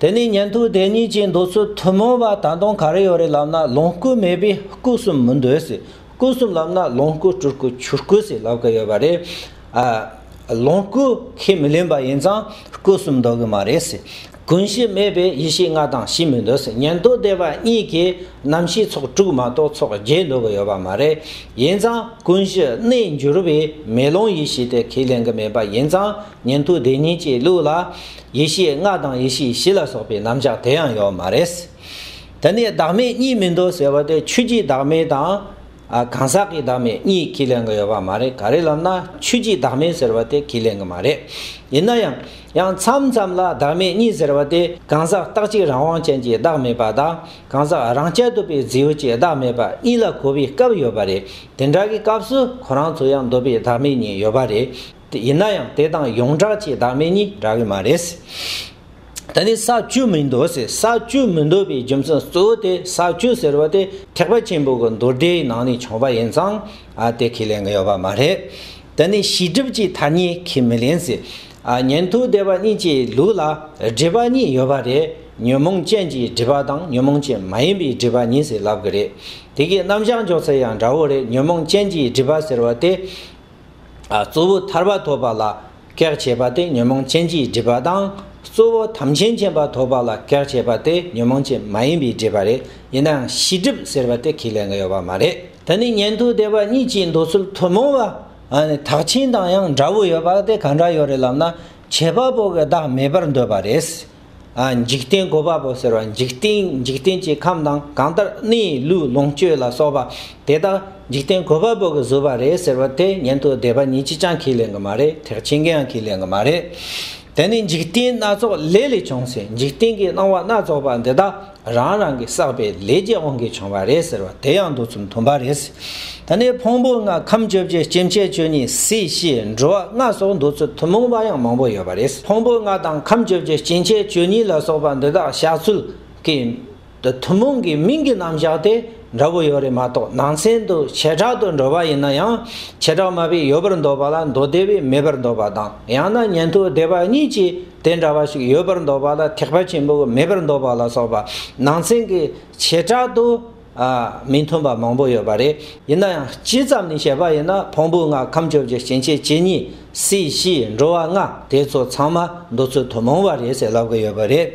དེ་ནས་ཉན་ཐོས་དེ་གཉིས་ཀྱིས་འདོད་ཚུལ་ཐུན་མོང་བ་ད་དུང་ག་རེ་ཡོད་རེད་ལབ་ན་ལོངས་སྐུ་མེད་པས་སྐུ་གསུམ་མི་འདོད་ཟེར་སྐུ་གསུམ་ལབ་ན་ལོངས་སྐུ་སྤྲུལ་སྐུ་ཆོས་སྐུ་ཟེར་ལབ་ཀྱི་ཡོད་པ་རེད། ལོངས་སྐུ་ཁས་མི་ལེན་པ་ཡིན་ཙང་སྐུ་གསུམ་འདོད་ཀྱི་མ་རེད་ཟེར། ཀུན་གཞི་མེད་པས་ཡེ་ཤེས་ལྔ་དང་བཞི་མི་འདོད་ཟེར་ཉན་ཐོས་སྡེ་པ་གཉིས་ཀྱིས་རྣམ་ཤེས་ཚོགས་དྲུག་མ་གཏོགས་ཚོགས་བརྒྱད་འདོད་ཀྱི་ཡོད་པ་མ་རེད། ཡིན་ཙང་ཀུན་གཞི་གནས་འགྱུར་བས་མེ་ལོང་ཡེ་ཤེས་དེ་ཁས་ལེན་གྱི་མེད་པ་ཡིན་ཙང་ཉན་ཐོས་སྡེ་གཉིས་ཀྱི་ལུགས་ལ། ཡེ་ཤེས་ལྔ་དང་ཡེ་ཤེས་བཞི་ལ་སོགས་པའི་རྣམ་གཞག་དེ་ཡང་ཡོད་མ་རེད། དེ་ནས་བདག་མེད་གཉིས་མི་འདུག་ཟེར་བ་དེ་ཆོས་ཀྱི་བདག་མེད་དང། གང་ཟག་གི་བདག་མེད་གཉིས་ཁས་ལེན་གྱི་ཡོད་པ་མ་རེད་ག་རེ་ལབ་ན་ཆོས་ཀྱི་བདག་མེད་ཟེར་བ་དེ་ཁས་ལེན་གྱི་མ་རེད། ཡིན་ན་ཡང། ཡང་མཚམས་མཚམས་ལ་བདག་མེད་གཉིས་ཟེར་བ་དེ་གང་ཟག་རྟག་གཅིག་རང་དབང་ཅན་གྱི་བདག་མེད་པ་དང་གང་ཟག་རང་སྐྱ་དུབ་པའི་རྫི་བོ་གྱི་བདག་མེད་པ་གཉིས་ལ་གོ་བའི་སྐབས་ཡོད་པ་རེད། དེ་འདྲ་གི་སྐབས་སུ་ཁོ་རང་ཚོ་ཡང་འདོད་པའི་བདག་མེད་གཉིས་ཡོད་པ་རེད། ཡིན་ན་ཡང་དེ་དང་ཡོངས་གྲགས་ཀྱི་བདག་མེད་གཉིས་འདྲ་གི་མ་རེད། ད་ནི་ས་བཅུ་མི་འདོད་ཟེར་ས་བཅུ་མི་འདོད་པའི་རྒྱུ་མཚན་གཙོ་བོ་དེ་ས་བཅུ་ཟེར་བ་དེ་ཐེག་པ་ཆེན་པོ་གི་མདོ་སྡེའི་ནང་ནས་བྱུང་བ་ཡིན་ཙང་དེ་ཁས་ལེན་གི་ཡོད་པ་མ་རེད། ད་ནི་ཤེས་སྒྲིབ་ཀྱི་ཐ་སྙད་ཁས་མི་ལེན་ཟེར། ཉན་ཐོས་སྡེ་པ་གཉིས་ཀྱི་ལུགས་ལ་སྒྲིབ་པ་གཉིས་ཡོད་པ་རེད། ཉོན་མོངས་ཅན་གྱི་སྒྲིབ་པ་དང་ཉོན་མོངས་ཅན་མ་ཡིན་པའི་སྒྲིབ་པ་གཉིས་ཟེར་ལབ་གི་རེད། དེ་གའི་རྣམ་གཞག་འཇོག་ཚད་ཡང་འདྲ་བོ་རེད་ཉོན་མོངས་ཅན་གྱི་སྒྲིབ་པ་ཟེར་བ་དེ་གཙོ་བོ་ཐར་པ་ཐོབ་པ་ལ་གེགས་བྱེད་པ་སྟེ་ཉོན་མོངས་ཅན་གྱིས་སྒྲིབ་པ་དང། གཙོ་བོ་དམ་ཅན་མཁྱེན་པ་ཐོབ་པ་ལ་གེགས་བྱེད་པ་སྟེ་ཉོན་མོངས་ཅན་མ་ཡིན་པས་སྒྲིབ་པ་རེད་ཡིན་ནའང་ཤི་སྒྲིབ་ཟེར་བ་དེ་ཁས་ལེན་གི་ཡོད་པ་མ་རེད། ད་ནི་ཉན་ཐོས་སྡེ་བ་གཉིས་ཀྱི་འདོད་ཚུལ་ཐུན་མོང་བ་དག་ཆེན་དང་ཡང་འདྲ་བོ་ཡོད་པ་དེ་གང་འདྲ་ཡོད་རེད་ལབ་ན་བྱེད་པ་པོ་གི་བདག་མེད་པར་འདོད་པ་རེད། འཇིག་རྟེན་གོ་བ་པོ་ཟེར་བ་འཇིག་རྟེན་འཇིག་རྟེན་གྱི་ཁམས་དང་གང་ལྟར་སྣའི་ལུས་ལོངས་སྤྱོད་ལ་སོགས་པ་དེ་དག་འཇིག་རྟེན་གོ་བ་པོ་གི་བཟོས་པ་རེད་ཟེར་བ་དེ་ཉན་ཐོས་སྡེ་པ་ཉིད་ཅི་ཅང་ཁས་ལེན་གི་མ་རེད་ཐེག་ཆེན་གྱིའང་ཁས་ལེན་གི་མ་རེད། དེ་ནི་འཇིག་རྟེན་སྣ་ཚོགས་ལས་ལས་བྱུང་ཟིན་འཇིག་རྟེན་གྱི་སྣང་བ་སྣ་ཚོགས་པ་འདི་དག་རང་རང་གིས་བསགས་པའི་ལས་ཀྱིས་དབང་གིས་བྱུང་བ་རེད་ཟེར་བ་དེ་ཡང་འདུག་ཚུལ་མཐུན་པ་རེད། ད་ནི་ཕུང་པོ་ལྔ་ཁམས་བཅོ་བརྒྱད་སྐྱེ་མཆེད་ཆོས་ཉིད་སྲིད་ཞི་འགྲོ་བ་ལྔ་སོགས་འདུག་ཚུལ་ཐུན་མོང་པ་ཡང་མང་པོ་ཡོད་པ་རེད། ཕུང་པོ་ལྔ་དང་ཁམས་བཅོ་བརྒྱད་སྐྱེ་མཆེད་ཆོས་ཉིད་ལ་སོགས་པ་འདི་དག་བཞག་ཚུལ་གྱི། ཐུན་མོང་གི་མིང་གི་རྣམ་བཞག་དེ་འདྲ་བོ་ཡོད་རེད་མ་གཏོགས་ནང་ཚན་དུ་བྱེ་བྲག་ཏུ་འགྲོ་བ་ཡིན་ན་ཡང་བྱེ་བྲག་མ་དཔེ་ཡོད་པར་འདོད་པ་ལ་མདོ་སྡེ་བས་མེད་པར་འདོད་པ་དང་ཡང་ན་ཉན་ཐོས་སྡེ་པ་གཉིས་ཀྱིས། དེ་འདྲ་བ་ཞིག་ཡོད་པར་འདོད་པ་ལ་ཐེག་པ་ཆེན་པོ་གི་མེད་པར་འདོད་པ་ལ་སོགས་པ་ནང་ཚན་གྱི་བྱེ་བྲག་ཏུ་མི་མཐུན་པ་མང་པོ་ཡོད་པ་རེད། ཡིན་ན་ཡང་སྤྱི་ཙམ་ནས་བཤད་པ་ཡིན་ན་ཕུང་པོ་ལྔ་ཁམས་བཅོ་བརྒྱད་སྐྱེ་མཆེད་བཅུ་གཉིས་སྲིད་ཞི་འགྲོ་བ་ལྔ་དེ་ཚོ་ཚང་མ་འདོད་ཚུལ་དུ་མོང་བ་རེད་ཟེར་ལབ་ཀྱི་ཡོད་པ་རེད།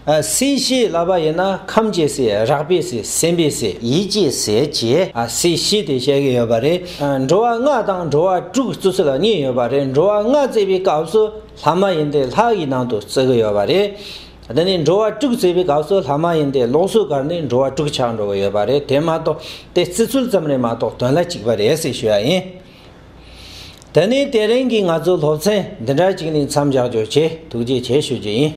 སྲིད་ཞི་ལབ་པ་ཡིན་ན་ཁམས་ཀྱི་སྲིད་རགས་པའི་སྲིད་སེམས་པའི་སྲིད་ཡིད་ཀྱི་སྲིད་ཅེས་སྲིད་ཞི་དེ་བཤད་ཀྱི་ཡོད་པ་རེད། འགྲོ་བ་ལྔ་དང་འགྲོ་བ་དྲུག་གི་བརྩི་ཚུལ་གཉིས་ཡོད་པ་རེད་འགྲོ་བ་ལྔ་བརྩི་བའི་སྐབས་སུ། ལྷ་མ་ཡིན་དེ་ལྷ་ཡི་ནང་དུ་བརྩི་གི་ཡོད་པ་རེད། དེ་ནས་འགྲོ་བ་དཀྲུགས་བརྩིས་པའི་སྐབས་སུ་ལྷ་མ་ཡིན་དེ་ལོགས་སུ་བཀར་ནས་འགྲོ་བ་དཀྲུགས་ཆགས་འགྲོ་གི་ཡོད་པ་རེད་དེ་མ་གཏོགས་དེ་བརྩི་ཚུལ་ཙམ་རེད་མ་གཏོགས་དོན་ལ་གཅིག་པ་རེད་ཟེར་ཞུ་ཡ་ཡིན། དེ་ནས་དེ་རིང་གི་ང་ཚོའི་སློབ་ཚན་འདི་འདྲ་གཅིག་ནས་མཚམས་འཇགས་རྒྱུ་བཅས་ཐུགས་རྗེ་ཆེ་ཞུ་རྒྱུ་ཡིན།